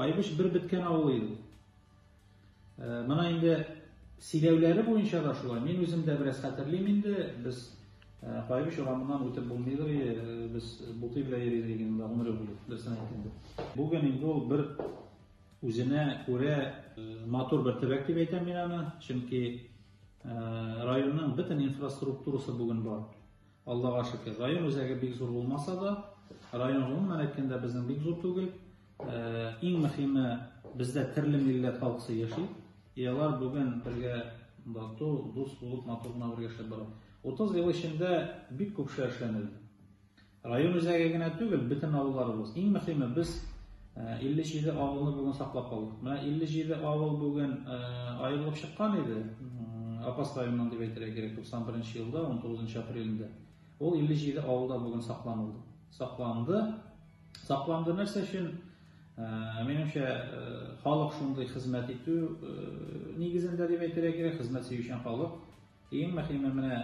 Кайбыш бер беткән авыл иде. Э, Моны инде сөйләүләре буенча да шулай. Мин үзем дә бераз хәтерлим инде. Без э, Кайбыш урамыннан үтеп булмыйдыр, э, без бутый белән йөридек инде гомере буе, дөресен әйткәндә. Бүген инде ул бер Үзенә күрә матур бер төбәк дип әйтәм мин аны, чөнки районның бөтен инфраструктурасы бүген бар. Аллага шөкер. Район үзәге бик зур булмаса да, район гомумән әйткәндә безнең бик зур түгел. Иң мөһиме, бездә төрле милләт халкысы яши. И алар бүген бергә тату, дус булып, матур гына бергә яшәп бара. 30 ел эчендә бик күп эшләр эшләнелде. Район үзәге генә түгел, бөтен авылларыбыз. Иң мөхиме, без 57 авылны бүген саклап калдык. Менә 57 авыл бүген аерылып чыккан иде, Апас районыннан дип әйтергә кирәк, 91 нче елда, 19 нчы апрелендә. Ул 57 авылда бүген сакланылды. Сакланды. Сакланды нәрсә өчен? Минемчә, халык шундый хезмәт итү нигезендә дип әйтергә кирәк, хезмәт сөючән халык. Иң мөһиме менә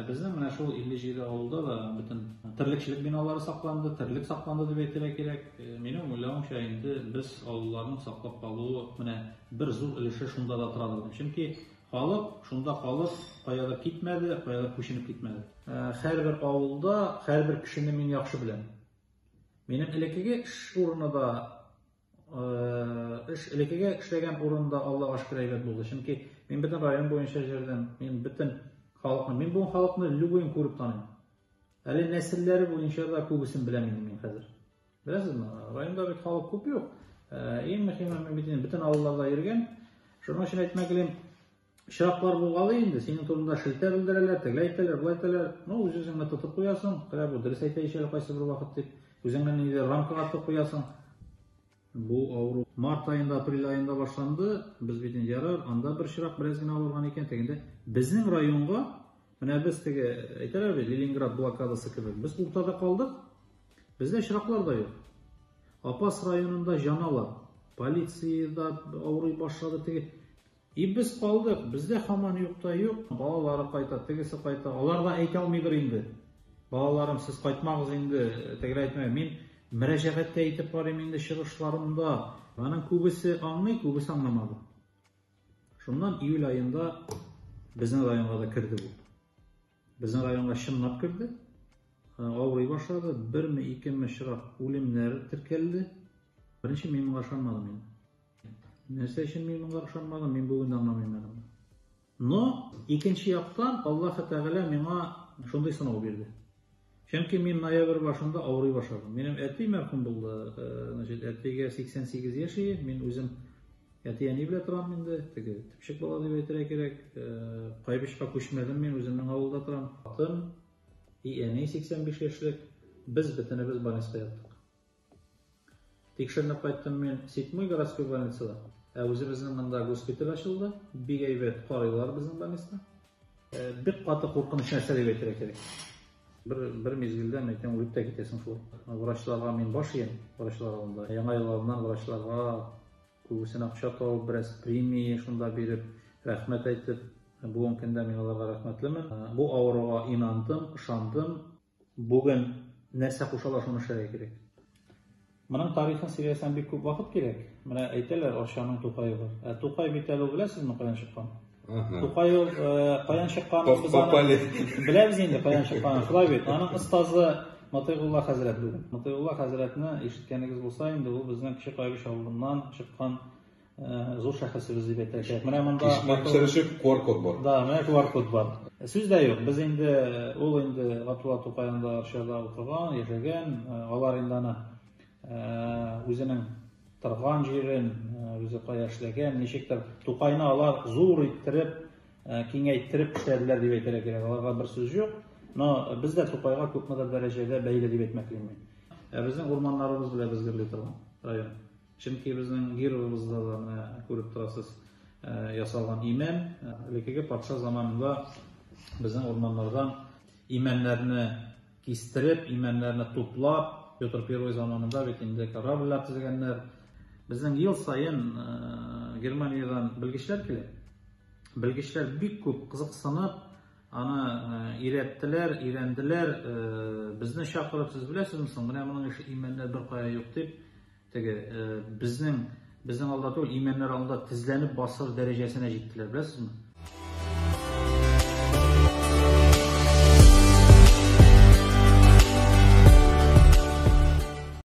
безнең менә шул 57 авылда да бөтен терлекчелек биналары сакланды, терлек сакланды дип әйтергә кирәк. Минем уйлавымча, инде без авылларның саклап калуы менә бер зур өлеше шунда да торадыр дип. Чөнки халык шунда калып, каядыр китмәде, каядыр күченеп китмәде. Һәрбер авылда һәрбер кешене мин яхшы беләм. Минем элеккеге эш урыны да Эш элекеге эшләгән урында Аллага шөкер әйбәт булды. Чөнки мин бөтен район буенча җөрдем. Мин бөтен халыкны, мин бу халыкны любойын күреп таныйм. Әле нәселләре буенча да күбесен беләм инде мин хәзер. Беләсезме, районда бит халык күп юк. Иң мөһиме, мин бит инде бөтен авылларда йөргән. Шуның өчен әйтмәк Очраклар булгалый инде, синең турында шелтә белдерәләр, тегеләй әйтәләр, болай әйтәләр. Ну, үз-үзеңне тотып куясың, кая бу дөрес әйтә ич әле кайсы бер вакыт дип, үзеңне ниндидер рамкага тотып куясың. Бу авыру март аенда, апрель аенда башланды. Без бит инде ярар, анда бер чирак бераз генә авырган икән, тегендә. Безнең районга, менә без теге, әйтәләр бит, Ленинград блокадасы кебек, без уртада калдык, бездә чираклар да юк. Апас районында җаналар, полиция да авырый башлады, теге И без калдык, бездә хаман юк та юк, балалары кайта, тегесе кайта, алар да әйтә алмыйдыр инде. Балаларым, сез кайтмагыз инде, тегеләр әйтмәгән, мин мөрәҗәгать тә итеп карыйм инде чыгышларымда. Аның күбесе аңлый, күбесе аңламады. Шуннан июль аенда безнең районга да керде бу. Безнең районга чынлап керде. Авырый башлады. Берме, икеме чырак үлемнәр теркәлде. Беренче мин моңа ышанмадым инде. Нәрсә өчен мин моңа ышанмадым, мин бүген дә аңламыйм әле. Но икенче яктан Аллаһы Тәгалә миңа шундый сынау бирде. Чөнки мин ноябрь башында авырый башладым. Минем әти мәрхүм булды. Значит, әтигә 88 яшь иде. Мин үзем әти-әни белән торам инде. Теге типчек бала дип әйтергә кирәк. Кайбычка күчмәдем мин, үземнең авылда торам. Атым и әни 85 яшьлек. Без бөтенебез больниста яттык. Тикшеренеп кайттым мин Ситмый городской больницада. Ә үзебезнең монда госпиталь ачылды. Бик әйбәт карыйлар безнең больницаны. Бик каты куркыныч нәрсә дип әйтергә кирәк. Бер, бер мизгелдә, мин әйтәм, үлеп тә китәсең шул. Врачларга мин баш иям, врачлар алдында. Яңа ел алдыннан врачларга күбесен акча табып, бераз премия шунда биреп, рәхмәт әйтеп, бүгенге көндә мин аларга рәхмәтлемен. Бу авыруга инандым, ышандым. Бүген нәрсә кушалар, шуны эшләргә кирәк. Моның тарихын сөйләсәм бик күп вакыт кирәк. Менә әйтәләр, Арчаның Тукае бар. Ә Тукай бит әле беләсезме каян чыккан? Тукай ул э, каян чыккан? Без аны беләбез инде каян чыккан. Шулай бит. Аның остазы Матыйгулла хәзрәт бүген. Матыйгулла хәзрәтне ишеткәнегез булса, инде ул безнең Кече Кайбыч авылыннан чыккан Зур шәхесебез дип әйтәчәк. Менә монда Кишмәк төшерүчек QR код бар. Да, менә QR код бар. Сүз дә юк. Без инде ул инде Гатула Тукаенда Арчада укыган, яшәгән. Алар инде аны үзенең торган җирен, үзе кая эшләгән, ничектер Тукайны алар зур иттереп, киңәйттереп эшләделәр дип әйтергә кирәк. Аларга бер сүз юк. Но без дә Тукайга күпмедер дәрәҗәдә бәйле дип әйтмәклимен. Безнең урманнарыбыз белән безгерли торган район. Чөнки безнең гербыбызда да, менә күреп торасыз, ясалган имән. Элеккеге патша заманында безнең урманнардан имәннәрне кистереп, имәннәрне туплап, Петр I заманында бит инде корабльләр төзегәннәр. Безнең ел саен Германиядән белгечләр килеп, белгечләр бик күп кызыксынып, аны өйрәттеләр, өйрәнделәр, безне чакырып, сез беләсезме соң, менә моның ише имәннәр беркая юк дип, Теге безнең безнең алда түгел, имәннәр алдында тезләнеп басыр дәрәҗәсенә җиттеләр, беләсезме?